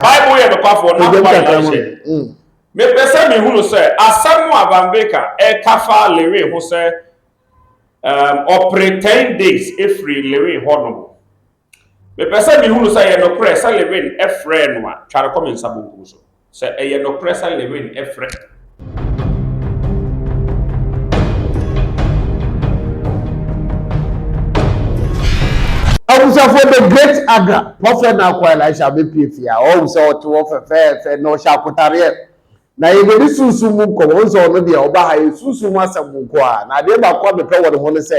Bible yɛ nokwafoɔ na akoma yɛ ahyɛ. Mm. Mepɛ sɛ mehunu sɛ asɛm a Van Baker ɛka fa Lewin ho sɛ um, ɔpere 10 days ɛfiri Lewin hɔ no. Mepɛ sɛ mehunu sɛ ɛyɛ nokorɛ sɛ Lewin ɛfrɛɛ no a tware kɔ me nsa bonkum so. Sɛ ɛyɛ nokorɛ sɛ Lewin ɛfrɛ abusuafoɔ the great agra prɔfɛt na akɔ elisha abɛpie fie a ɔhu sɛ ɔte hɔ fɛfɛɛfɛ na ɔhyɛ akotareɛ na yɛbɛdi sunsum mu nkɔmmɔ ɔhu sɛ ɔno deɛ ɔba ha yɛ sunsum mu asɛm nko a na adeɛ baako a mepɛ wɔ ne ho no sɛ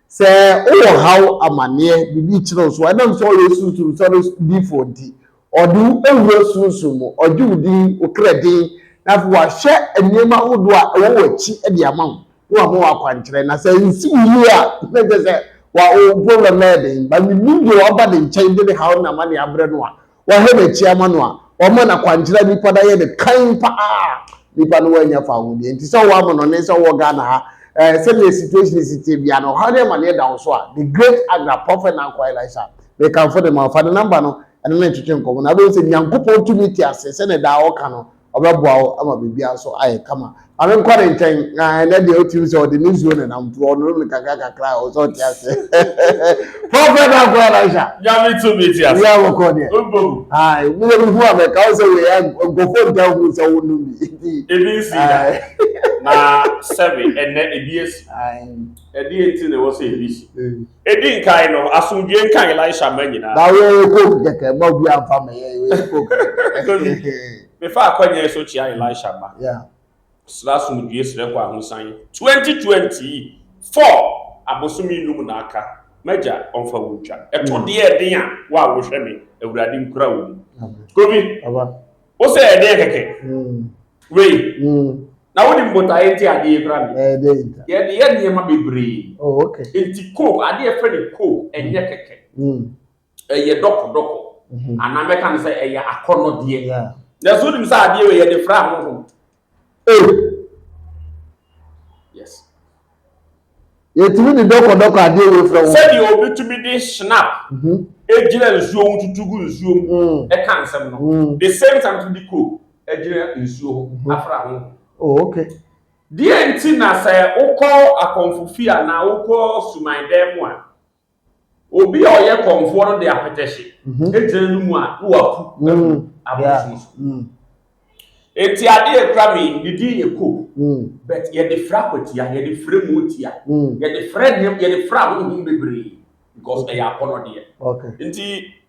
sɛ wowɔ haw amanneɛ biribi kyerɛ so ɛnam sɛ ɔyɛ sunsum sɔre difoɔ nti Ɔde wo awu wo sunsum mu, ɔgye wo din, wo kra din, na afei wahwɛ nneɛma ahodoɔ a ɛwɔ w'akyi de ama wo, na wama wo akwankyerɛ. Na sɛ ansi wo yie a, na kyerɛ sɛ wa wo problem no ayɛ den. But menim deɛ waba ne nkyɛn de ne haw ne n'amaneɛ abrɛ no a, wahwɛ n'akyi ama no a, wama no akwankyerɛ a nnipa no ayɛ no kann pa ara a, nnipa no wɔanya fa ho deɛ nti sɛ wowɔ amanɔne sɛ wowɔ Ghana ha, eh, sɛdeɛ situation si teɛ biara no, ɔhaw ne amaneɛ da wo so a, the great Agra, Prophet Nanko Elisha, Mekamfo de ma wo. Fa ne nɔmba no ne no ntwetwe nkɔmmɔ na wobɛhu sɛ Nyankopɔn tumi te ase sɛdeɛ daa ɔka no, ɔbɛboa wo ama biribiara nso ayɛ kama. Ma menkɔ ne nkyɛn, na ɛnnɛ deɛ wotirim sɛ ɔde ne nsuo na ɛnam nti ɔnonom no kakra kakra a, ɔsɛ ɔte ase. Prɔfɛt Dankwa Elisha. Nyame tumi te ase. Yɛ wɔkɔ deɛ. Mbom. Ae, meyɛ me hu a mɛka wo sɛ wei a nkurɔfoɔ ntaa hu sɛ wonom bi. Nti. Ebi nsii da. Na sɛbe ɛnnɛ ebi asi. Ae. Ɛdeɛ nti na ɛwɔ sɛ ebi si? Edi nkan no, asomdwoe nka Elisha mma nyinaa. Na woyɛ coke kɛkɛ mma obi amfa ma yɛn woyɛ coke kɛkɛ. Mefa akwannya so kyia Elisha mma. Srɛ asomdwoe srɛ kɔ ahosan. Twenty twenty four abosome nnum na aka, m'Agya ɔmfa wo ntwa. Ɛtɔ deɛ ɛden a, wo a wohwɛ me, Awurade nkura wo mu. Kobi. Wo sɛ ɛdeɛ kɛkɛ. Wei. Na wo nim botaeɛ nti adeɛ yi kura mi. Ɛdeɛ nta. Yɛde yɛ nneɛma bebree. Oh okay. Nti coke adeɛ fɛ ne coke ɛnyɛ kɛkɛ. Ɛyɛ dɔkɔ dɔkɔ. Anaa mɛka ne sɛ ɛyɛ akɔnɔdeɛ. Na so nim sɛ adeɛ wei yɛde fra ahohom. Ei! Yes. Yɛtumi de dɔkɔdɔkɔ adeɛ wei frɛ wo. Sɛdeɛ obi tumi de shinap mhm. gyina nsuo ho tutu gu nsuo mu mm. ɛka nsɛm no. Mm. The same time tumi de coke gyina nsuo ho mhm. afra ho. Oh, okay. Deɛ nti na sɛ wokɔ akɔmfo fie anaa wokɔ suman dan mu a, Obi a ɔyɛ kɔmfoɔ no de apɛtɛhye mhm. gyina no mu a na waku mm. agu abosom so. Mm. Eti adeɛ ekura mi ne din yɛ ko. Mm. But yɛde frɛ akwatia, yɛde frɛ mu tia, yɛde frɛ nneɛma, yɛde frɛ ahohom bebree because ɛyɛ akɔnɔdeɛ. Nti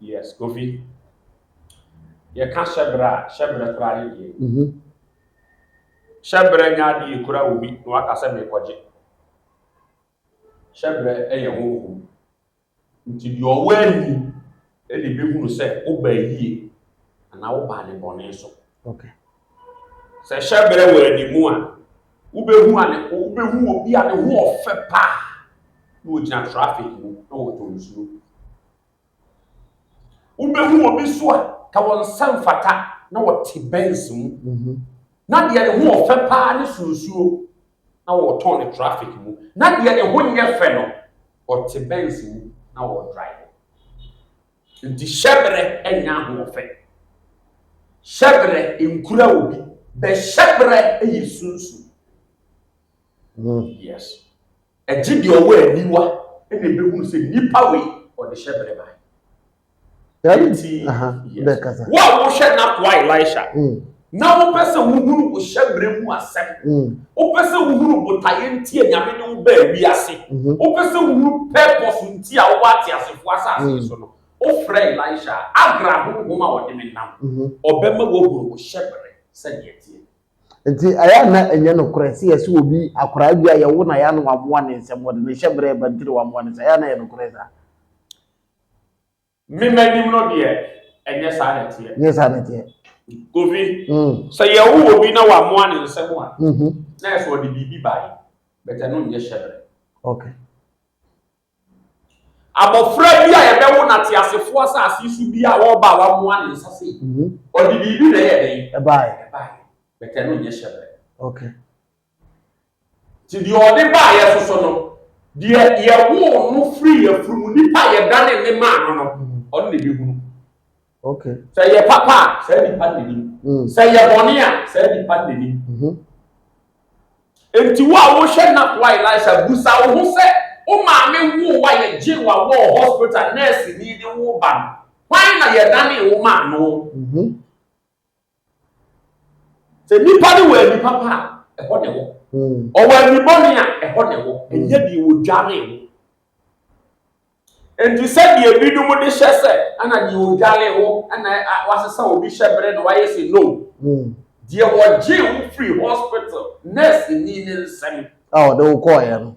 Yes, Kofi. Yɛka hyɛbrɛ a, hyɛbrɛ koraa ne deɛ. Mhm. Hyɛbrɛ nyɛ adeɛ yɛkura wɔ bi na waka sɛ merekɔgye. Hyɛbrɛ yɛ honhom. Nti deɛ ɔwɔ ani na ɛbɛhunu sɛ wobaa yie anaa wobaa ne bɔne so. Okay. Sɛ hyɛberɛ wɔ anim a, wobɛhu ane wobɛhu obi a ne ho ɔfɛ paa na ɔgyina traffic mu na ɔtɔ nsuo. Wobɛhu obi so a ka wɔn nsa mfata na ɔte Benz mu mhm. na deɛ ne ho ɔfɛ paa ne so nsuo na ɔtɔn ne traffic mu na deɛ ne ho nyɛ fɛ no ɔte Benz mu na ɔdrive. Nti hyɛbrɛ nyɛ ahoɔfɛ. Hyɛbrɛ nkura obi, bɛ hyɛbrɛ yɛ sunsum. Woo yes. Ɛgye deɛ ɔwɔ aniwa na ɛbɛhunu sɛ nipa wei ɔde hyɛbrɛ bae. Nti wo a wohwɛ n'akoa Elisha. Na wopɛ sɛ wohunu wo hyɛbrɛ mu asɛm. Wopɛ sɛ wohunu botaeɛ nti a Nyame de wo baa wiase. Wopɛ sɛ wohunu purpose nti a wowɔ ateasefoɔ asase yi so no. Wofrɛ Elisha a, Agra honhom a ɔde me nam. Ɔbɛma woahunu wo hyɛbrɛ sɛdeɛ ɛteɛ. Nti ɛyɛ a na ɛnyɛ nokorɛ sɛ yɛse obi, akoraa bi a yɛwo no a ɛyɛ a na wamoa ne nsam, ɔde ne hyɛbrɛ reba nti na wamoa ne nsam. Ɛyɛ a na ɛyɛ nokorɛ saa? Me m'anim no deɛ, ɛnyɛ saa na ɛteɛ. Ɛnyɛ saa na ɛteɛ. Kofi, mm. sɛ yɛwo obi na wamoa ne nsɛm a, mm-hmm. na ɛsɛ ɔde biribi bae, bɛtɛ no nyɛ hyɛbrɛ. Okay. Abɔfra bi a yɛbɛwo no ateasefoɔ asase so bi a ɔba a wamoa ne nsa sei, mm-hmm. ɔde biribi na ɛyɛ dɛn? Ɛbae. Ɛbae. Bɛtɛ no nyɛ hyɛbrɛ. Okay. Nti deɛ ɔde baa yɛ so so no, deɛ yɛwoo no firi yɛ firi mu, nipa a yɛdane ne maa no no, ɔno na ɛbɛhunu. Okay. Sɛ yɛ papa a, saa nipa no n'anim. Mm. Sɛ yɛ bɔne a, saa nipa no n'anim. Mm -hmm. Nti wo a wohwɛ na koa Elisha busa wo ho sɛ, wo maame woo wa yɛgye wa wɔ hospital nurse ni de wo ba no, hwan na yɛdane wo maa no? Mm -hmm. Sɛ nipa no wɔ ani papa a, ɛhɔ na ɛwɔ. Hmm. Ɔwɔ ani bɔne a, ɛhɔ na ɛwɔ. Hmm. Ɛnyɛ deɛ wɔdware wo. Nti sɛdeɛ ebinom de hyɛ sɛ ɛna deɛ ɔdware wo ɛna wasesa obi hyɛ berɛ na wayɛ sɛ no hmm. deɛ wɔgye wo firi hospital nurse ni ne nsɛm a ɔde wo kɔɔeɛ no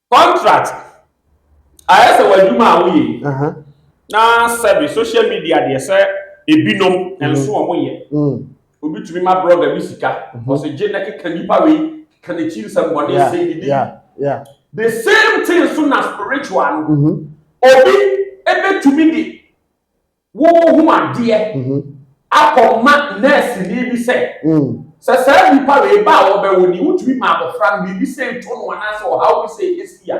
Contract ayɛ sɛ w'adwuma a woyɛ yi na sɛbi social media deɛ sɛ ebinom nso wɔn yɛ obi tumi ma blogger bi sika ɔsɛ gye na keka nipa wei keka n'akyi nsɛm bɔ ne sɛ ne de the same thing so na spiritual no obi ebetumi de Worehu adeɛ akɔma nɛɛseni bi sɛ, sɛ saa nnipa wei ba a wɔbɛwo no yi, wotumi ma abɔfra no biribi sei to no anaasɛ ɔhaw bi sei ɛsi a,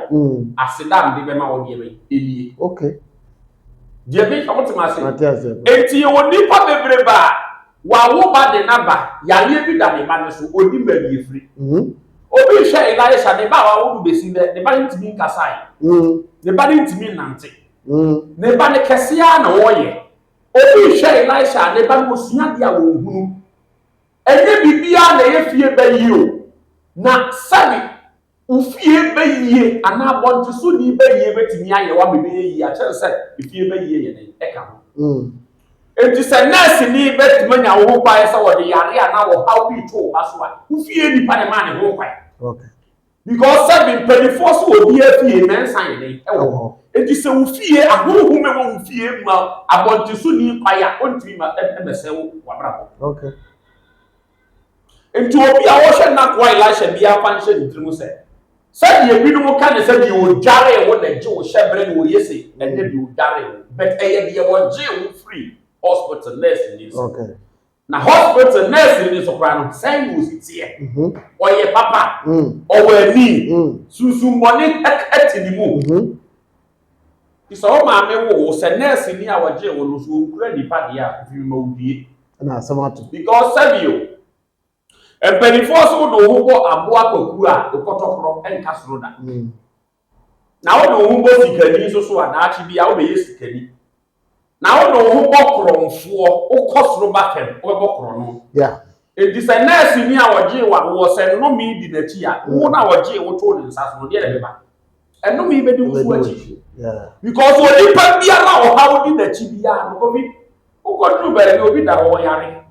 aseda a mede bɛma wo deɛ bɛn? Ɛnie. Okay. Deɛ meka, mote me ase? Mate ase. Enti yɛwɔ nnipa bebrebe a, wawo ba de n'aba, yareɛ bi da ne ba no so, ɔnnim baabi ɛfiri. Obi rehwɛ Elisha, ne ba a wawo no bɛsi nnɛ, ne ba no ntumi nkasae, ne ba no ntumi nnante. Mm. Ne ba ne kɛse ara na ɔreyɛ. Obi rehwɛ Elisha a ne ba no osua adeɛ a ɔnhunu. Ɛnyɛ biribiara na ɛyɛ fie ba yie o. Na sɛbe wo fie ba yie anaa abɔntesoni ba yie bɛtumi ayɛ wo ama ɛbɛyɛ yie a, kyerɛ no sɛ efie ba yie yɛ dɛn? Ɛka ho. Mm. Enti sɛ nɛɛseni bɛtumi anya wo ho kwan sɛ wɔde yareɛ anaa ɔhaw bi reto wo ba so a, wo fie nipa na ɛmaa ne ho kwan. Okay. Because sɛ me mpanimfoɔ so wɔ obiara fie mɛnsa yɛ dɛn ɛwɔ hɔ. Enti sɛ wo fie ahohom ɛwɔ wo fie ma abɔnten so ni kwae a ɔntumi ma ɛmɛsɛ wo w'abrabɔ. Okay. Enti obi a ɔhwɛ n'akoa Elisha biara fa nhyɛ ne tirim sɛ, sɛdeɛ binom ka ne sɛ deɛ ɔdwaree wo na ɛgye wo hyɛberɛ na ɔyɛ sei, ɛnyɛ deɛ ɔdwaree wo, but ɛyɛ deɛ ɔgyee wo firii hospital nurse ni nsam. Okay. Na hospital nurse ni nso koraa no, sɛn na osi teɛ? Ɔyɛ papa, ɔwɔ ani, sunsummɔne te ne mu. Nti sɛ wo maame woo wo, sɛ nurse ni a ɔgyee wo no, sɛ ɔnkura nnipa deɛ a, fi me ma wo due. Ɛna asɛm ato. Because sɛbi o, mpanimfoɔ se wode wo ho bɔ aboa kwakuo a, wo kɔtɔkorɔ nka soro da. Na wode wo ho bɔ sikani nso so a, daakye biara wobɛyɛ sikani. Na wode wo ho bɔ korɔnfoɔ, wokɔ soro ba fam, wobɛbɔ korɔno. Enti sɛ nɛɛseni a ɔgyee wo awoɔ, sɛ nnome di n'akyi a, wo na ɔgyee wo too ne nsa so no, deɛ na ɛbɛba? Nnome bɛdi wo so akyi. Because onipa biara a ɔhaw di n'akyi biara no, kɔbi. Wokɔduru baabi obi da hɔ ɔyare,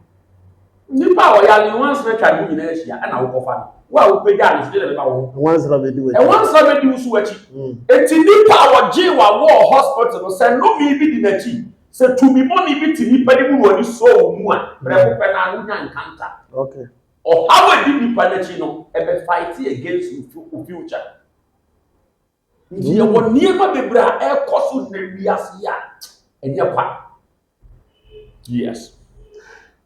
nnipa a ɔyare yi nwansena twa ne ho nyinaa hyia na wokɔfa no. Wo a wopagyaa no so, deɛ na ɛbɛba wo ho? Nwansena bɛdi w'akyi. Nwansena bɛdi wo so w'akyi. Enti nnipa a wɔgyee wo awɔɔ hospital no, sɛ nnome bi di n'akyi, sɛ tumi bɔne bi te nnipa no mu na wɔde sɔɔ wo mu a, prɛko pɛ no ara wonya encounter. Ɔhaw a ɛdi nnipa no akyi no, ɛbɛ fight against wo future. Yɛwɔ nneɛma bebree a ɛrekɔ so nnɛ wiase yi a ɛnyɛ kwa. Yes.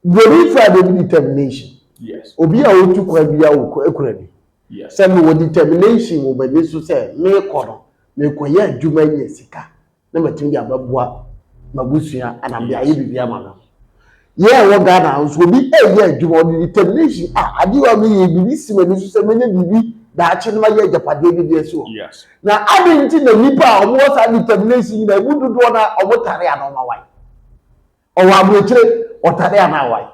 Deɛ ne fura deɛ bi determination. Yes. Obi a otu kwan bi a okura bi. Yes. Sɛ mewɔ determination wɔ m'ani so sɛ merekɔ no, merekɔyɛ adwuma nya sika. na matumi de abɛboa m'abusua ana mede ayɛ biribi ama no yɛ ɛwɔ ghana nso obi ɛyɛ adwuma ɔde determination a adeɛ a meyɛ biribi si m'ani so sɛ mɛnya biribi daakye no mayɛ agyapadeɛ bi deɛ si hɔ na ade nti na nnipa a wɔwɔ saa determination nyinaa ɛmu dodoɔ no a wɔtare a na wɔma wae ɔwɔ aburokyire ɔtare a na awae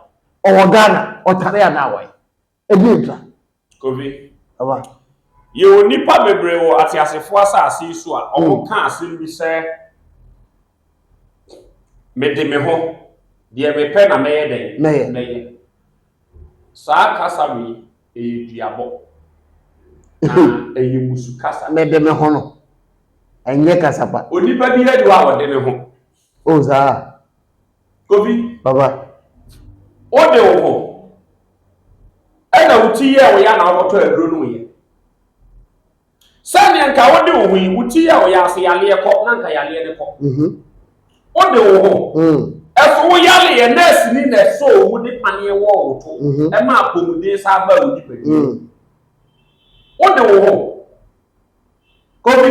ɔwɔ ghana ɔtare a na awae Ɛdeɛn ntra? Kofi, Aba. yɛwɔ nnipa bebree wɔ ateasefoɔ asase yi so a wɔn ka asɛm bi sɛ, Mede me ho, deɛ mepɛ na mɛyɛ dɛn? Mɛyɛ. Mɛyɛ. Saa kasa wei, ɛyɛ duabɔ. Na ɛyɛ mmusu kasa. Mede me ho no, ɛnyɛ kasa pa. Onipa biara ni hɔ a ɔde ne ho. Oh saa a. Kobi. Papa. Wode wo ho ɛna wo ti yɛɛ wo ya na wokɔtɔ aduro no yɛ. Sɛdeɛ nka wode wo ho yi wo ti yɛ wo ya ase yaleɛ kɔ na nka yaleɛ no kɔ. Mhm. Wode wo ho. Mm. Ɛso wo yaleɛ nɛɛsi ni na ɛsɔ owu de paneɛ wɔ wo to. Mhm. Ɛma apɔmuden saa ba wo nipadua. Mm. Wode wo ho. Kobi,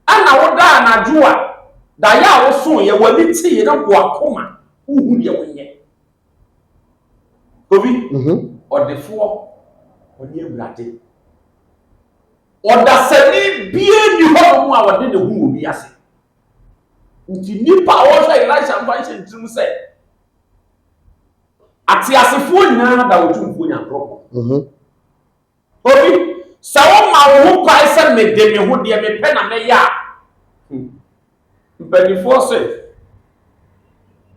ana wodaa anadwo a daeɛ a wosooeɛ, w'ani teeɛ na bɔ akoma wohu deɛ wonyɛ? Kobi, Ɔdefoɔ, ɔne Awurade. Ɔdasani biara nni hɔnom a ɔde ne ho wɔ wiase. Nti nnipa a wɔhwɛ Elisha mfa nhyɛ ne tirim sɛ ateasefoɔ nyinaa da Otumfoɔ Nyankopɔn. Obi, sɛ woma wo ho kwan sɛ mede me ho deɛ mepɛ na mɛyɛ a, hmm, mpanimfoɔ se,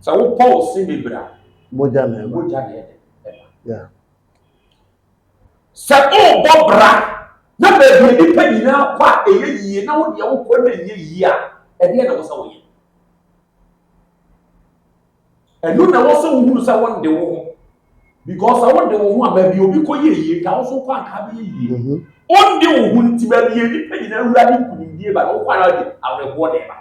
sɛ wopɔ wo se bebree a, mogya na ɛde ɛba. Sɛ wobɔ bra na baabi nnipa nyinaa kɔ a ɛyɛ yie na wo deɛ wokɔ na ɛnyɛ yie a, ɛdeɛ na wo sɛ woyɛ? ɛno na ɛwɔ sɛ wohunu sɛ wonde wo ho because sɛ wode wo ho a baabi obi kɔ yɛ yie nka wo so kɔ anka bɛyɛ yie mhm. wonde wo ho nti baabi yɛ nnipa nyina awura ne nkunimdie ba na wokɔ ara de awerɛhoɔ de ba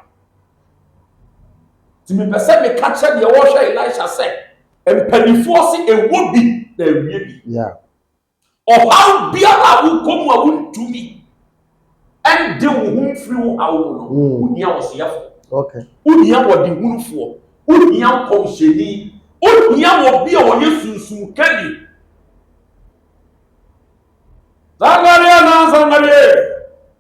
nti mepɛ sɛ meka kyerɛ deɛ wɔhwɛ elisha sɛ mpanimfoɔ se ɛwɔ bi na awie bi Ɔhaw biara a wokɔ mu a wontumi ɛnde wo ho mfiri wo haw mu no, mm. wohia ɔseyɛfo. Okay. Wohia ɔdehunufoɔ. Wohia nkɔmhyɛni. Wohia obi a ɔyɛ sunsun kani. Sangareɛ na sangareɛ.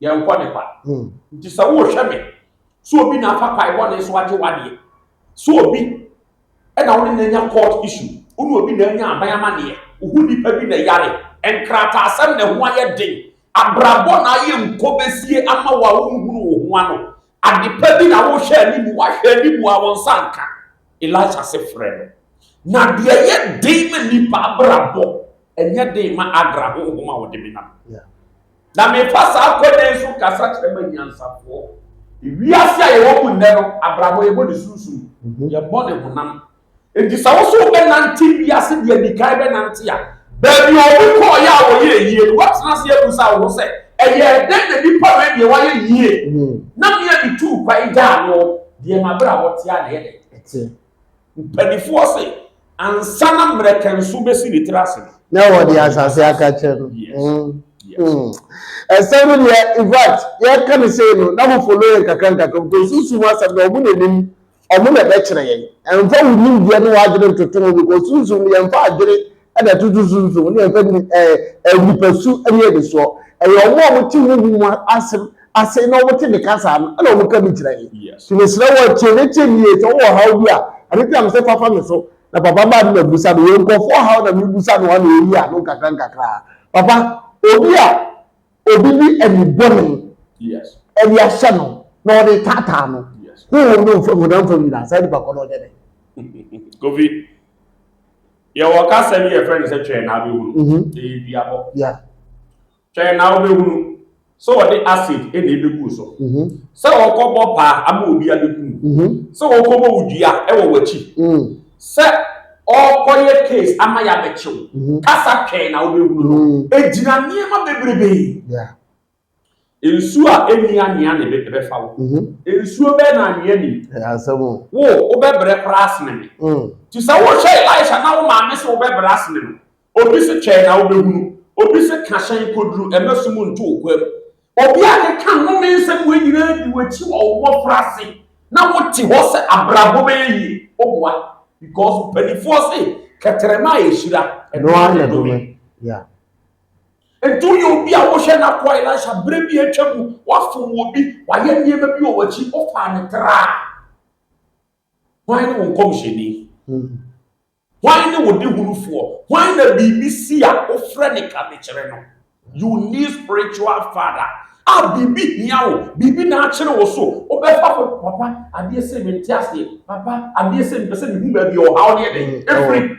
Yɛnkɔ ne kwa. Hmm. Nti sɛ wohwɛ me, so obi na afa kwae bɔne so agye wadeɛ? So obi ɛna wo ne na anya court issue? Wo ne obi na anya aban amaneɛ? Wohu nipa bi na yare? Nkrataasɛm na ɛho ayɛ den? Abrabɔ na ayɛ nkɔbɛsie ama wo a wonhunu wo ho ano? Adepa bi na wohwɛ animu? Wahwɛ animu a wo nsa nka? Elisha se frɛ no. Na deɛ yɛ den ma nipa abrabɔ, ɛnyɛ den ma Agra honhom a wɔde me nam. Yeah. na mefa saa kwan yi so kasa kyerɛ m'anyansafoɔ. Wiase a yɛwɔ mu nnɛ no, abrabɔ yɛbɔ ne sunsum, mhm. yɛbɔ ne honam. Enti sɛ wo so wobɛnante wiase deɛ di kan bɛnante a, baabi a obi kɔɔeɛ a wɔyɛ yie no, woatena ase abusa wo ho sɛ, ɛyɛ dɛn na nipa wei deɛ wayɛ yie? Mhm. Na mmea bi tuu kwan gyaa no, deɛ mabrabɔ tea na ɛyɛ dɛ. Mpanimfoɔ se ansa na mmerɛkɛnso bɛsi ne tiri ase no. Na wɔde asase aka kyɛ no. Ɛsɛm no deɛ in fact yɛka no sei no na mo follow yɛn kakra nkakra because sunsum asɛm no wɔn na nim wɔn na ɛbɛkyerɛ yɛn. Ɛmfa wo nimdeɛ ne w'adwene ntoto ho because sunsum no yɛmfa adwene Ɛna ɛtoto so nso, ne yɛfrɛ no ɛɛ nipasu ne anisoɔ. Ɛyɛ wɔn a wɔte honhom mu asɛm ase na wɔte me kasa no na wɔka bi kyerɛ. Nti mesrɛ wo tie me tie me yie. Sɛ wowɔ ɔhaw bi a, ɛno nti na mesɛ fa fa me so. Na papa maa no ma bisa no. Yɛ nkurɔfoɔ ɔhaw na mebusa no ano ɛyi ano nkakra nkakra. Papa, obi a obi de ani bɔne ɛde ahyɛ no na ɔde taataa no, honhom no mfam honam fam nyinaa, saa nipa kɔ no ɔnyɛ dɛ. Kofi. Yɛwɔ kasa bi yɛfrɛ no sɛ twɛn na abɛhunu. Mhm. Ɛyɛ duabɔ. Yeah. Twɛn na wobɛhunu sɛ wɔde acid na ɛbɛgu so. Mhm. Sɛ wɔkɔbɔ paa ama obi abɛku mu. Mhm. Sɛ wɔkɔbɔ wo dua wɔ w'akyi. Mm. Sɛ ɔkɔyɛ case ama yɛabɛkyew. Mhm. Kasa twɛn na wobɛhunu no. Mm. Ɛgyina nneɛma bebrebe. Yeah. Nsuo a ɛnni anwea na ɛbɛfa wo. Mm-hmm. Nsuo bɛɛ na anwea ni. Wo, wobɛbrɛ koraa asene me. Mm. Nti sɛ wohwɛ Elisha na wo maame sɛ wobɛbrɛ asene no, obi se twɛn na wobɛhunu, obi se ka hyɛn kɔduru ɛmɛ so mu nto wo kwam. Obi a keka nnome nsɛm wei nyinaa di w'akyi wɔ wo mmɔfra ase na wote hɔ sɛ abrabɔ bɛyɛ yie. Woboa because mpanimfoɔ se kɛtɛrɛma a ɛhyira ɛno ara na ɛdome. Ɛduru yɛ obi a wohwɛ no akoa Elisha berɛ bi a atwa mu, wafom wɔ bi, wayɛ nneɛma bi wɔ w'akyi, wofaa no traa. Hwan ne wo nkɔmhyɛni? Hwan ne wo dehunufoɔ? Hwan na biribi si a wofrɛ ne ka de kyerɛ no? You need spiritual father. A biribi hia wo, biribi na akyere wo so, wobɛfa fo, papa, adeɛ sei mente aseɛ, papa, adeɛ sei mepɛ sɛ mehu baabi a ɔhaw ne ɛdɛn ɛfiri.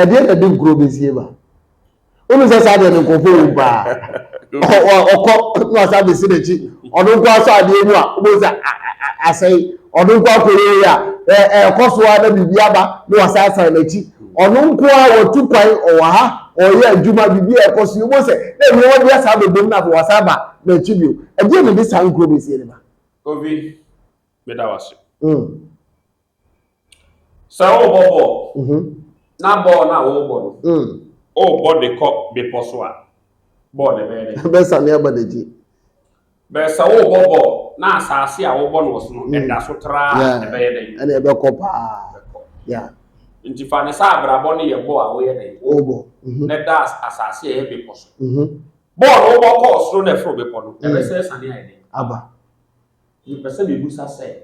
ɛdeɛ na ɛde nkuro bɛsie ba wonu sɛ saa deɛ no nkurɔfoɔ wɔ paa ɔkɔ na ɔsa bɛsi n'akyi ɔno nko asɔ adeɛ mu a wobɛhu sɛ asɛe ɔno nko akɔyɛyi a ɛkɔ so a na biribi aba na wasa asan n'akyi ɔno nko a wɔtu kwan ɔwɔ ha ɔyɛ adwuma biribi a ɛkɔ so wobɛhu sɛ na nneɛma bi asa bɛbom na afei wasa aba n'akyi bio ɛdeɛ na ɛde saa nkuro bɛsie no ba obi meda wase mm. Sɛ worebɔ bɔɔl, mhm. na bɔɔl no a worebɔ no, mm. worebɔ de kɔ bepɔ so a, bɔɔl no bɛyɛ dɛ. Bɛsane aba n'akyi. Bɛyɛ sɛ worebɔ bɔɔl na asase a wobɔ no wɔ so no, mm. ɛda so traa ɛbɛyɛ dɛ. Ɛna ɛbɛkɔ paa. Nti fa ne sɛ abrabɔ no yɛ bɔɔl a woyɛ dɛ. Wobɔ. Mhm. Na ɛda asase a ɛyɛ bepɔ so. Mhm. Bɔɔl no wobɔ kɔɔ soro na ɛforo bepɔ no, ɛbɛsɛ sane ayɛ dɛ. Aba. Mepɛ sɛ mebisa sɛ,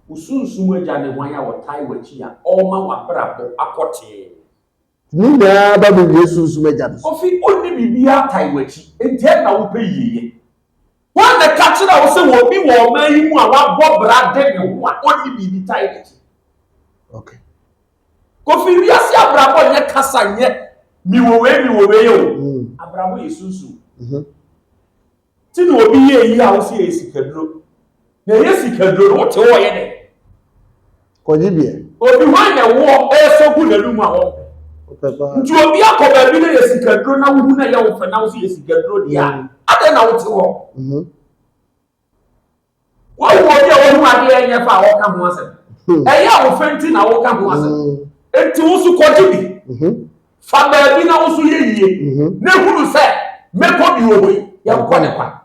wo sunsum agya ne hwan a ɔtae w'akyi a ɔrema w'abrabɔ akɔ tee? Ne nyinaa ba me wie sunsum agya no so. Ofi onni biribiara tae w'akyi, enti ɛnna wopɛ yieyɛ. Hwan na ɛka kyerɛɛ wo sɛ obi wɔ ɔman yi mu a wabɔ bra de ne ho a onni biribi tae n'akyi? Okay. Kofi, wiase abrabɔ nyɛ kasa, nyɛ mewɔ wei mewɔ wei o. Abrabɔ yɛ sunsum. Nti na obi yɛ eyi a wosi ɛyɛ sikaduro. Na ɛyɛ sikaduro no wote hɔ ɔyɛ dɛ. Kɔgye bi ɛ. Obi hwan na ɛwoɔ ɛresɔ gu n'anum a wɔmpɛ. Nti obi akɔ baabi na ɛyɛ sikaduro na wohu na ɛyɛ wo fɛ na wosi yɛ sikaduro deɛ a, adɛn na wote hɔ. Woahu obi a wahu adeɛ a ɛnyɛ fɛ a ɔka ho asɛm? Hmm. Ɛyɛ a wofɛ nti na woka ho asɛm. Hmm. Enti wo nso kɔgye bi. Mhm. Fa baabi na wo nso yɛ yie. Mhm. Na ehunu sɛ mɛkɔ bi wɔ hɔ yi, yɛnkɔ ne kwa.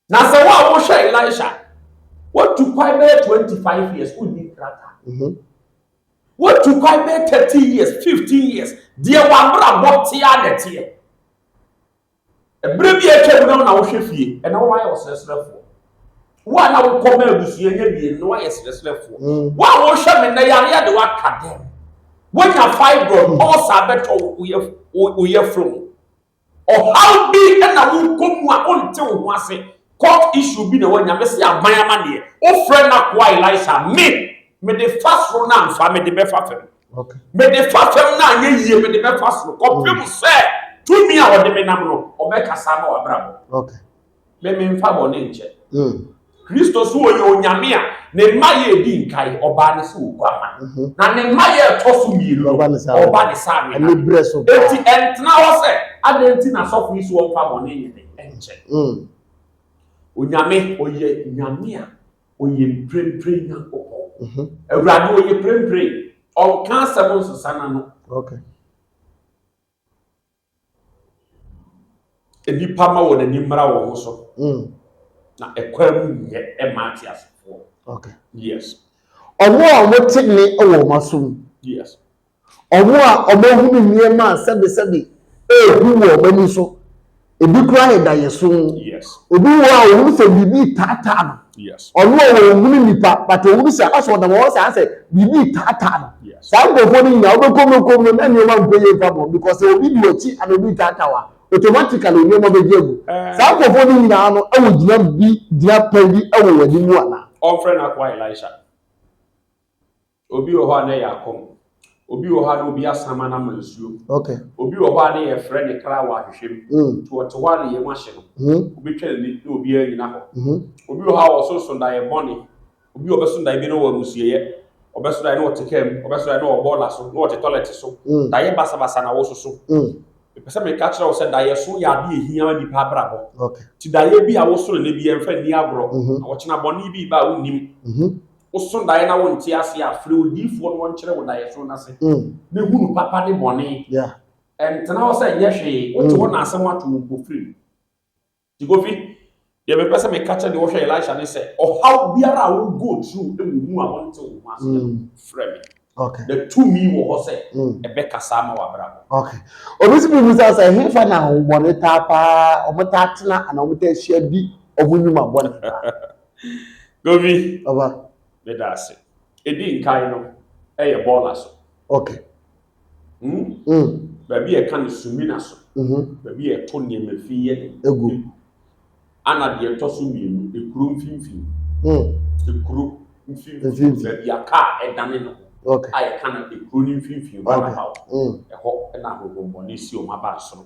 Na sɛ wo a wohwɛ Elisha, wotu kwan bɛyɛ twenty five years, wonni krataa. Mhm. Wotu kwan bɛyɛ thirteen years, fifteen years, deɛ w'abrabɔ tea na ɛteɛ. Bere bi a atwam no na wohwɛ fie, ɛna woayɛ ɔsrɛsrɛfoɔ. Wo a na wokɔ ma abusua nya bie no, na woayɛ srɛsrɛfoɔ. Mm. Wo a wohwɛ me nnɛ yareɛ de woaka dɛm. Woanya fibroid, mm. ɔsa bɛtɔ wo yɛfrɛ mu. Ɔhaw bi na wokɔ mu a wonte wo ho ase. Court issue bi na woanya, me se aban amaneɛ. Wofrɛ n'akoa Elisha, me, mede fa soro na amfa, mede bɛfa fam. Mede fa fam no anyɛ yie, mede bɛfa soro, kɔpem sɛ tumi a ɔde me nam no, ɔbɛkasa ama w'abrabɔ. Me memfa bɔne nkyɛ. Kristo so ɔyɛ Onyame a ne mma yɛ edi nkae, ɔbaa ne sɛ oguama. Na ne mma yɛ ɛtɔ so mmienu no, ɔba ne sɛ anibere. Enti ɛntena hɔ sɛ adɛn nti na asɔfo yi so wɔmfa bɔne nyɛ dɛn nkyɛ. Onyame ɔyɛ Nyame a ɔyɛ mprempren nyankopɔn mhm. awurade ɔyɛ mprempren ɔnka asɛm nsesa na no nnipa ma wɔn ani mmara wɔn ho so mm. na ɛkwan mu nyɛ ɛma ate asefoɔ yes ɔno a wɔte ne wɔ wɔn asom yes Wɔn a wɔahunu nneɛma a sɛbesɛbe rehu wɔ wɔn ani so, ebi koraa yɛ daeɛso. Obi wɔ hɔ a ɔhunu sɛ biribi retaataa no. Ɔno a ɔnhunu nnipa, but ɔhunu sɛ asɛ ɔnam hɔ saa sɛ biribi retaataa no. Saa nkurɔfoɔ no nyinaa wobɛkɔ mu kɔ mu na nneɛma nkɔ yie mfa bɔ because sɛ obi di w'akyi ana obi retaataa wo a, automatically nneɛma bɛgye agu. Saa nkurɔfoɔ no nyinaa no wɔ gyina bi gyina pɛn bi wɔ w'anim anaa? Wɔmfrɛ no akoa Elisha. Obi wɔ hɔ a na ɛyɛ akɔm. Obi wɔ hɔ a na obi asama no ama nsuo. Okay. Obi wɔ hɔ a na yɛfrɛ ne kra wɔ ahwehwɛ mu. Mm. Nti ɔte hɔ a na yam ahye no. Mm. Wobɛtwa n'ani na obiara nnyina hɔ. Mm. Obi wɔ hɔ a ɔso sondaeɛ bɔne. Obi ɔbɛso daeɛ bi na ɔwɔ amusueɛ. Ɔbɛso daeɛ na ɔte kaa mu. Ɔbɛso daeɛ na ɔwɔ bɔɔla so, na ɔte tɔlɛte so. Mm. Daeɛ basabasa na wososo. Mm. Mepɛ sɛ meka kyerɛ wo sɛ daeɛ so yɛ adeɛ ɛhia ma nnipa abrabɔ. Okay. Nti daeɛ bi a woso no nnɛ bi ɛmfa nni agorɔ. Mm-hmm. Na ɔkyena bɔne bi reba a wonnim. Mm-hmm. woso daeɛ na wonte ase a, frɛ odiyifoɔ na ɔnkyerɛ wo daeɛso no ase mm. na hunu papa ne bɔne. Yeah. Ɛntena hɔ sɛ nyɛ hwee, wote hɔ mm. na asɛm ato wo mpofirim. Nti Kofi, deɛ mepɛ sɛ meka kyɛ deɛ wɔhwɛ Elisha ne sɛ, ɔhaw biara a wo go through wɔ mu a wonte wo ho ase mm. frɛ me. Okay. The two me wɔ hɔ sɛ ɛbɛkasa ama w'abrabɔ. Okay. Obi si bibi sɛ sɛ hefa na ahobɔne taa paa wɔn taa tena anaa wɔn taa hyia di wɔn nnwuma bɔne paa. Govi, Ɔba. meda ase. Ɛdi nkan no, ɛyɛ bɔɔla so. Ok. Hmm? Mm. Baabi a ɛka no sumina so. Mhm. Baabi a ɛto nneɛma fi yɛ dɛ. Egu. Ana deɛ ɛtɔ so mmienu, ekuro mfimfini. Mm. Ekuro mfimfini. Mfimfini. Baabi a kaa ɛdane ne ho. Ok. A yɛka no ekuro no mfimfini, Ok. roundabout. Mm. Ɛhɔ na ahohommɔne si wɔn aba soro.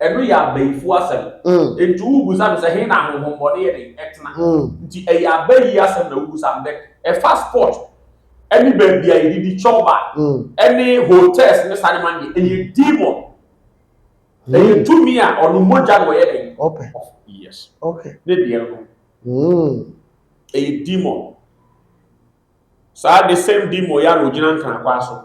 Ɛno yɛ abayifo asɛm. Enti wobisa no sɛ, He na ahonhommɔne yɛ dɛn tena? Nti ɛyɛ abayi asɛm na wobisa no. Ɛfa sport ne baabi a yɛdidi chɔba ne hotels ne saa nneɛma no deɛ, ɛyɛ demon. Ɛyɛ tumi a ɔno mogya na ɔyɛ dɛn? Ɔpɛ. Yes. Okay. Ne deɛ no. Ɛyɛ demon. Saa the same demon yɛ a na ɔgyina Nkranakwaa so.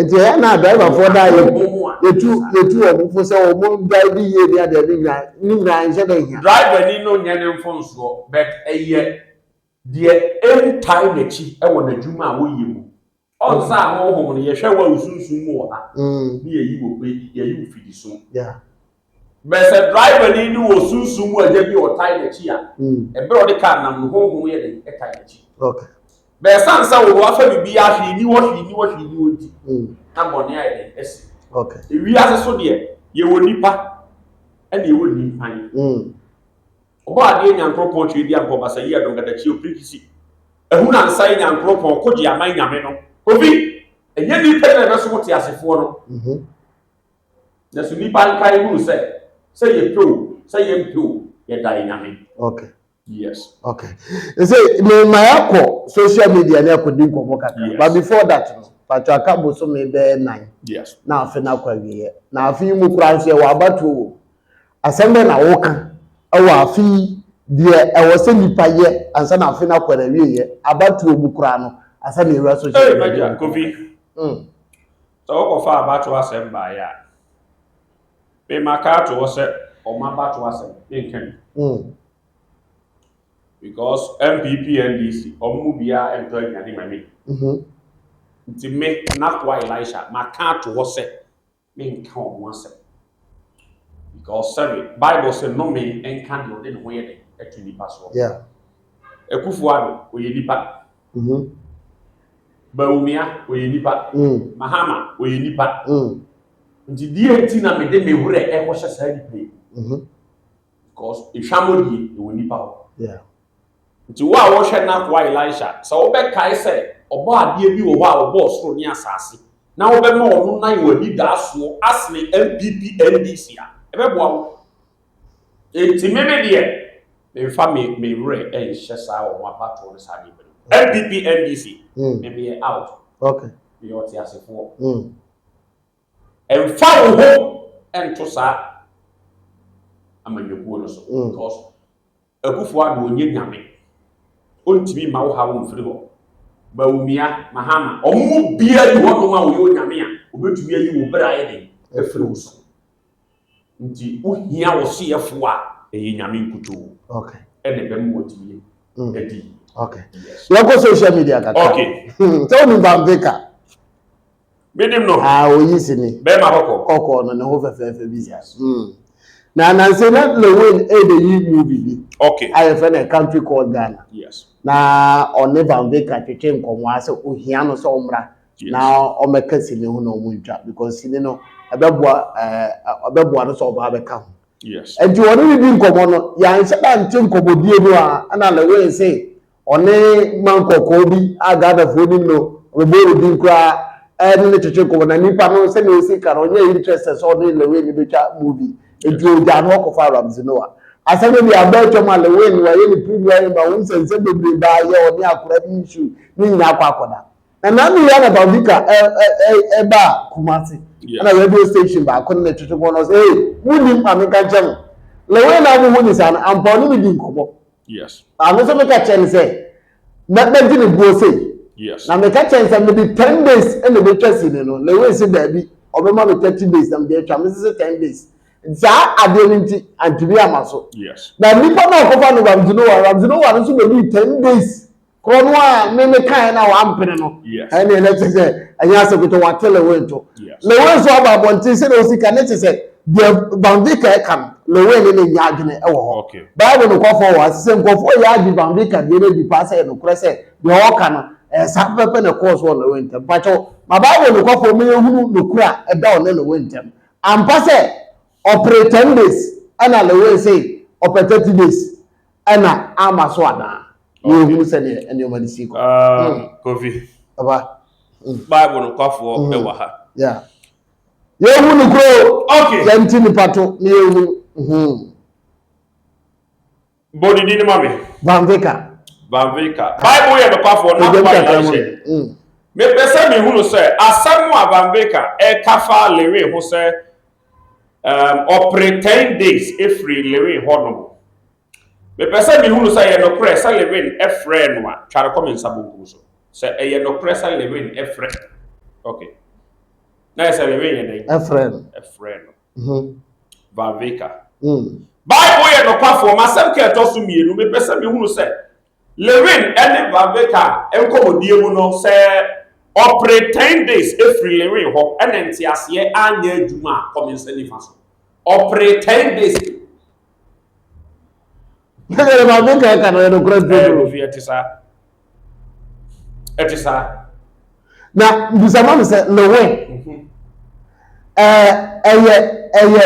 nti ɛyɛ na driverfoɔ da yɛ yɛtu yɛtu wɔn mpo sɛ wɔn drive yie ne adeɛ ne nyinaa ne nyinaa nhyɛ da hia. driver ni no nyɛ ne mfonsoɔ but ɛyɛ deɛ ɛntae n'akyi wɔ n'adwuma a wɔyɛ mu ɔnsa a honhom no yɛhwɛ wɔ wo sunsum mu wɔ ha ne yɛyi wɔ yɛyi wo fidi so Bɛyɛ sɛ driver ni no wɔ sunsum mu agya bi a ɔtae n'akyi a, ɛberɛ a ɔde kaa nam no, honhom yɛ dɛn? Ɛtae n'akyi. Bɛyɛ sane sɛ wo ho afa biribiara hwee ni hɔ, hwee ni hɔ, hwee ni hɔ nti, na bɔne ayɛ dɛn? Asi. Ewiase so deɛ, yɛwɔ nnipa, ɛna yɛwɔ nnipan. Ɔbɔ adeɛ Nyankoropɔn twerɛ di ampɔ basa yi adongadakyi opirikisi. Ahunu ansa yi Nyankoropɔn kogye aman Nyame no. Obi, ɛnyɛ nnipa nyina na ɛbɛso wo teasefoɔ no. Na so nnipa nkae hunu sɛ, sɛ yɛpɛ o, sɛ yɛmpɛ o, yɛda yɛ Nyame. Okay. Yes. Okay. Ɛsɛ, me ma yɛakɔ social media ne akɔdi nkɔmmɔ kakra. Yes. But before that no, patro aka bosome bɛyɛ nan. Yes. Na afe no akɔ awieɛ. Na afe yi mu koraa nso yɛwɔ abatoɔ wɔ mu. Asɛm bɛn na woka ɛwɔ afe yi deɛ ɛwɔ sɛ nipa yɛ ansa na afe no akɔ awieɛ abatoɔ mu koraa no ansa na yɛwura social media. Ɛɛ, Kofi. Mm. Sɛ wɔkɔfa abatoɔ asɛm baeɛ a, me maka ato hɔ sɛ wɔn abatoɔ asɛm ne nka bi. Mm. Because NPP NDC wɔn mu biara ntɔ aduane ma me. Mm -hmm. Nti me Nakoa Elisha maka ato hɔ sɛ me nka wɔn asɛm. Because sɛbi Bible sɛ nnome nka deɛ ɔde ne ho yɛ dɛ ɛto nipa soɔ. Yeah. Akufo-Addo ɔyɛ nipa. Mhm. Bawumia ɔyɛ nipa. Mm. Mahama ɔyɛ nipa. Mm. Nti deɛ nti na mede me werɛ ɛkɔhyɛ saa nipa yi. Mhm. Because ehwamɔ die ɛwɔ nipa hɔ. Yeah. Nti wo a wɔhwɛ n'akoa Elisha sɛ wobɛkae sɛ ɔbɔ adeɛ bi wɔ hɔ a ɔbɔɔ soro ne asase na wobɛma ɔno nan wɔ anidaasoɔ asene NPP NDC a ɛbɛboa wo. Enti me me deɛ, memfa me me werɛ nhyɛ saa wɔn abatoɔ no saa nneɛma no mu. NPP, NDC, mm. me meyɛ out. Okay. Meyɛ ɔteasefoɔ. Mm. Mfa wo ho nto saa amanyɔkuo no so. Mm. Because Akufo-Addo nyɛ nyame, ɔntumi mma wo haw mfiri hɔ. Bawumia, Mahama, wɔn mu biara nni hɔnom a ɔyɛ onyame a ɔbɛtumi ayi wo bere ayɛ den afiri wo so. Nti wohia wo soyɛfoɔ a ɛyɛ nyame nkutoo na ɛbɛma watumi adi yie. Yɛnkɔ social media kakra. Sɛ wonim Van Veka? Menim no. Ah, oyi si ni. Bɛrima kɔkɔɔ. Kɔkɔɔ no ne ho fɛfɛɛfɛ bi sa. Mm. Na nanse na Lewin ɛde yi movie bi. Okay. A yɛfrɛ no Country Called Ghana. Yes. Na ɔne Van Veka twetwe nkɔmmɔ a sɛ ohia no sɛ ɔmmra. Yes. Na ɔmmɛka sini ho na ɔmo ntwa because sini no ɛbɛboa ɛɛ ɛbɛboa no sɛ ɔba abɛka ho. Yes. Nti ɔne ne di nkɔmmɔ no yɛanhyɛ da nte nkɔmmɔdie no a ɛna Lewin se Ɔne man kɔkɔɔ bi a Ghanafoɔ nim no, ɔbɛbɔ no din koraa ne no twetwe nkɔmmɔ. Na nipa no sɛdeɛ ɔsi ka no, ɔnyɛ interested sɛ ɔne Lil Wayne bɛtwa movie. Nti ɔgyaa no hɔ kɔfaa Ramsey Noah. Asɛm no deɛ abɔ atwam a Lil Wayne wayɛ ne premua yi ma wohu sɛ nsɛm bebree baa yɛ ɔne akora bi issue ne nyinaa akɔ akɔda. Na Nanu yi ana Bawdika baa Kumasi ɛna radio station baako ne no twetwe nkɔmmɔ na ɔse hey monnim ma menka nkyerɛ mo Lil Wayne a mohu ne saa no ampa ɔne me dii nkɔmmɔ. Yes. Maame nso meka kyerɛ no sɛ na mɛgye ne buo sei. Yes. Na meka kyerɛ no sɛ mede ten days na ɛbɛtwa sini no na wei se daabi ɔbɛma me thirty days na mede atwa me sese ten days saa adeɛ no nti antumi ama so. Yes. Na nipa no a ɔkɔfa no Ramsey Noah Ramsey Noah no nso bɛdii ten days. Koro no a me me kae na wampene no. Ɛne ɛnɛ te sɛ ɛnyɛ asɛ kotɔ wate Lewin to. Lewin nso aba abɔnten sɛ na osi ka ne te sɛ deɛ Banvika ɛka no. Lewin ne ne nya adwene ɛwɔ hɔ. Bible no kɔfɔ wɔ ase sɛ nkurɔfoɔ yɛ agye Banvika deɛ no adi paa sɛ ɛnokorɛ sɛ deɛ ɔka no ɛyɛ saa pɛpɛ na ɛkɔɔ so wɔ Lewin ntɛm. Mpakyɛw ma Bible no kɔfɔ ma yɛhunu nokorɛ a ɛda ɔne Lewin ntɛm. Ampa sɛ ɔpere ten days ɛna Lewin se ɔpɛ thirty days. Ɛna ama so anaa? Na yɛhunu sɛdeɛ nneɛma no sii kɔ. Ah, mm. Kofi. Aba. Mm. Bible no kwafoɔ mm. ɛwɔ ha. Yeah. Yɛhu no kuro. Okay. Yɛnti nipa to na yɛhu. Mm-hmm. Bɔdi di ni ma mi. Banvika. Banvika. Bible yɛ no kwafoɔ na kwa yɛ ahyɛ. Mepɛ sɛ mehunu sɛ asɛm a Banvika ɛka fa lewe ho sɛ Um, ɔpere ten days efiri Lewin hɔ nom. Mepɛ sɛ mehunu sɛ ɛyɛ nokorɛ sɛ Lewin frɛɛ no a, twa no kɔ me nsa bonkum so. Sɛ ɛyɛ nokorɛ sɛ Lewin frɛ. Okay. Na yɛ sɛ Lewin yɛ dɛn? Ɛfrɛ no. Ɛfrɛ no. Mhm. Valveka. Mm. Bible yɛ nokwafoɔ. M'asɛm ka ɛtɔ so mmienu. Mepɛ sɛ mehunu sɛ Lorraine ne Vaveka nkɔmmɔdie mu no sɛ ɔpere ten days firi Lorraine hɔ na nteaseɛ anyɛ adwuma a kɔ me nsa nifa so. Ɔpere ten days. Ɛyɛ Vaveka ɛka no yɛ nokorɛ bio. Ɛyɛ nokorɛ ɛte saa. Ɛte saa. na bisa ma me sɛ lewe ɛɛ ɛyɛ ɛyɛ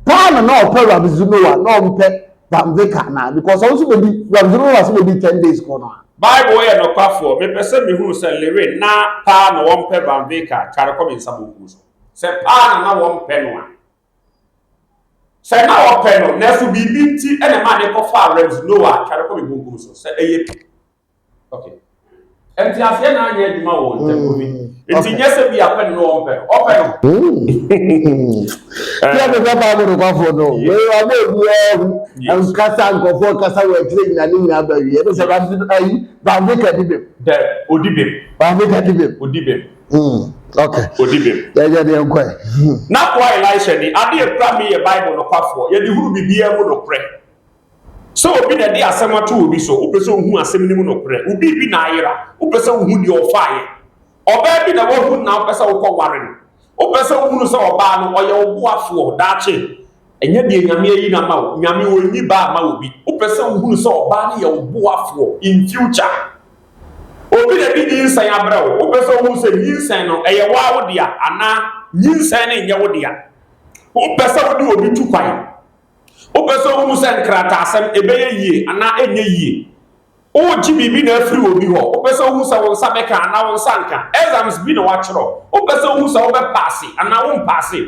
paa na na ɔpɛ rabzu noa na ɔmpɛ bamveka na because ɔno nso bɛdi rabzu noa nso bɛdi ten days kɔ no a. bible yɛ nɔkwafoɔ mepɛ sɛ mehunu sɛ lewe na paa na wɔmpɛ bamveka tware kɔ me nsa bɔkuo so sɛ paa na na wɔmpɛ no a sɛ na wɔpɛ no nanso biribi nti ɛna maa ne kɔfaa rabzu noa tware kɔ me bɔkuo so sɛ ɛyɛ Okay. Nti aseɛ na anyɛ adwuma wɔ ntam mm, bi. Nti nyɛ sɛ bi apɛ no wɔn pɛ no, ɔpɛ no. Yɛ de bɛ baa bɛ nokwafoɔ no, wei wa bɛ bi ɛhu nkasa nkɔfoɔ kasa wɔ akyire nyina ne nyina bɛ wie ne sɛ baabi ayi baabi ka di bɛm. Dɛ odi bɛm. Baabi ka di bɛm. Odi bɛm. Hmm, ok. Odi bɛm. Yɛyɛ deɛ nkɔ yi. N'akoa Elisha ni adeɛ kura mi yɛ Bible nokwafoɔ yɛde huru biribiara mu nokorɛ. Sɛ obi na ɛde asɛm ato obi so, wopɛ sɛ wohu asɛm no mu nokorɛ. Wo biribi na ayera, wopɛ sɛ wohu deɛ ɔfaeɛ. Ɔbaa bi na woahu no na wopɛ sɛ wokɔ ware no. Wopɛ sɛ wohunu sɛ ɔbaa no, ɔyɛ wo boafoɔ daakye. Ɛnyɛ deɛ Nyame ayi no ama wo. Nyame ɔnyi baa mma obi. Wopɛ sɛ wohunu sɛ ɔbaa no yɛ wo boafoɔ in future. Obi na ɛde nyinsɛn abrɛ wo. Wopɛ sɛ wohu sɛ nyinsɛn no, ɛyɛ wo ara wo dea anaa nyinsɛn no nyɛ wo dea. Wopɛ sɛ wode obi tu kwan. Wopɛ sɛ wuhu sɛ nkrataasɛm ɛbɛyɛ yie anaa ɛnyɛ yie? Woregye biribi na afiri obi hɔ? Wopɛ sɛ wuhu sɛ wo nsa bɛka anaa wo nsa renka? Exams bi na wɔakyerɛw. Wopɛ sɛ wuhu sɛ wobɛpaase anaa worempaase?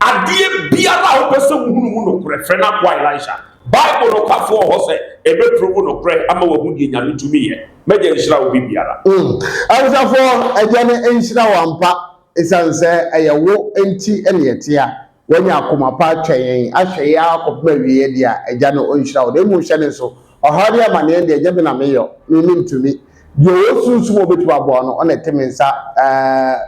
Adeɛ biara a wopɛ sɛ wuhunu mu nokorɛ, frɛ n'akoa Elisha. Bible nokwafo wɔ hɔ sɛ ɛbɛturo wo nokorɛ ama woahu deɛ Nyame tumi yɛ. M'Agya nhyira wo biribiara. Mm. Awosafoɔ Agya no nhyira wo ampa, esiane sɛ ɛyɛ wo nti na yɛte a. Wanya akoma pa atwɛn yɛn, ahwɛ yɛn ara kɔpem awieɛ deɛ a, Agya no ɔnhyira wo. Na mmom hyɛ no nso, ɔhaw ne amaneɛ deɛ, nyɛ me na meyɔ, me mentumi. Deɛ ɔwɔ sunsum a ɔbɛtumi aboa wo no, ɔna ɛte me nsa, ɛɛ,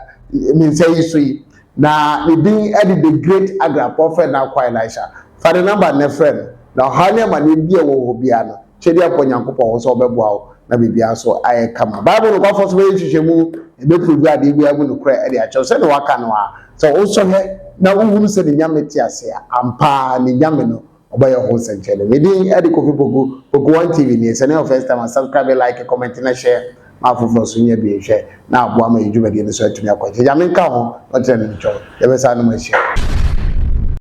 me nsa yi so yi. Na ne din de The Great Agra Prophet Nankwa Elisha. Fa ne number nnɛ frɛ no, na ɔhaw ne amaneɛ biara a ɛwɔ hɔ biara no, Twɛ de akɔ Nyankopɔn hɔ sɛ ɔbɛboa wo na biribiara so ayɛ kama. Bible nokwafo nso bɛyɛ nhwehwɛmu, ɛbɛpruvu ade biara mu nokorɛ de akyerɛ wo. Sɛdeɛ wɔaka no a, sɛ wosɔ hwɛ na wohunu sɛ ne Nyame te ase a, ampa ara ne Nyame no ɔbɛyɛ ho nsɛnkyerɛnne. Me din de Kofi Poku, Poku One TV nie. Sɛ ne yɛ first time a, subscribe, like, comment na share ma afoforɔ nso nyɛ bi nhwɛ na aboa ma yɛn dwumadie no so atumi akɔ akyiri. Nyame nka ho na ɔkyerɛ ne nkyɛn. Yɛbɛsan anom ahyia.